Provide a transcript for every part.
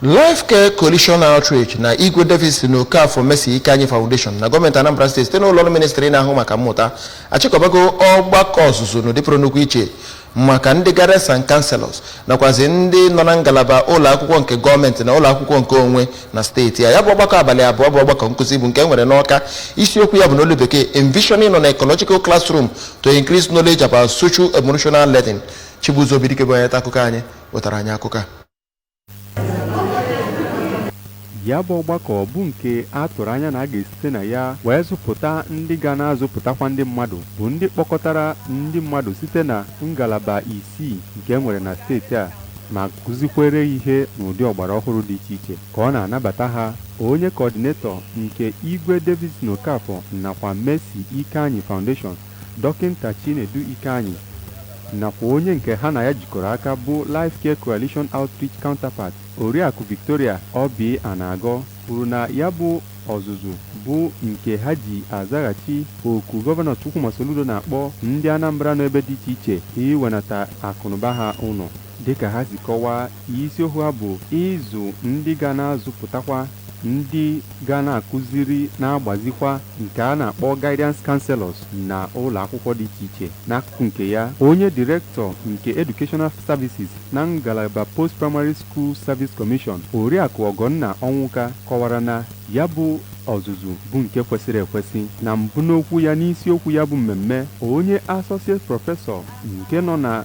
Life Care Coalition Outreach na Igwe Davidson Okafor Mercy Ikeanyi Foundation na gọọmenti Anambra steeti site n'ụlọ ọrụ ministri na-ahụ maka mmụta achịkọbago ọgbakọ ọzụzụ n'ụdị pụrụ nnukwu iche maka ndị guidance and counselors nakwazi ndị nọ na ngalaba ụlọ akwụkwọ nke gọọmenti na ụlọ akwụkwọ nke onwe na steeti a ya bụ ọgbakọ abalị abụọ bụ ọgbakọ nkụzi bụ nke e nwere n'Ọka isiokwu ya bụ n'olu bekee envisioning an ecological classroom to increase knowledge about social emotional learning Chibuzo Obidike bụ onye nta akụkọ anyị wetara anyị akụkọ a Ya bụ ọgbakọ bụ nke a tụrụ anya na a ga-esite na ya wee zụpụta ndị ga na-azụpụtakwa ndị mmadụ bụ ndị kpọkọtara ndị mmadụ site na ngalaba isii nke e nwere na steeti a ma kụzikwere ihe n'ụdị ọgbara ọhụrụ dị iche iche ka ọ na-anabata ha onye kọọdinetọ nke Igwe Davidson Okafor nakwa Mercy Ikeanyi Foundation Dọkịnta Chinedu Ikeanyi nakwa onye nke ha na ya jikọrọ aka bụ Life Care Coalition Outreach Counterpart, Oriakụ Victoria Oby Anagọ kwuru na ya bụ ọzụzụ bụ nke ha ji azaghachi oku Gọvanọ Chukwuma Soludo na-akpọ ndị Anambra nọ ebe dị iche iche iwenata akụnụba ha ụlọ. Dịka ha si kọwaa, isiokwu ha bụ ịzụ ndị ga na-azụpụtakwa ndị ga na-akụziri na-agbazikwa nke a na-akpọ Guidance Counsellors na ụlọakwụkwọ dị iche iche. N'akụkụ nke ya, onye Director nke Educational Services na ngalaba Post Primary School Service Commission, Oriakụ Ọgọnna Ọnwụka kọwara na ya bụ ọzụzụ bụ nke kwesịrị ekwesị. Na mbụ n'okwu ya n'isiokwu ya bụ mmemme, onye Associate Professor nke nọ na.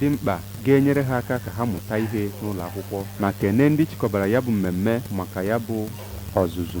dị mkpa ga-enyere ha aka ka ha mụta ihe n'ụlọakwụkwọ ma kene ndị chịkọbara ya bụ mmemme maka ya bụ ọzụzụ.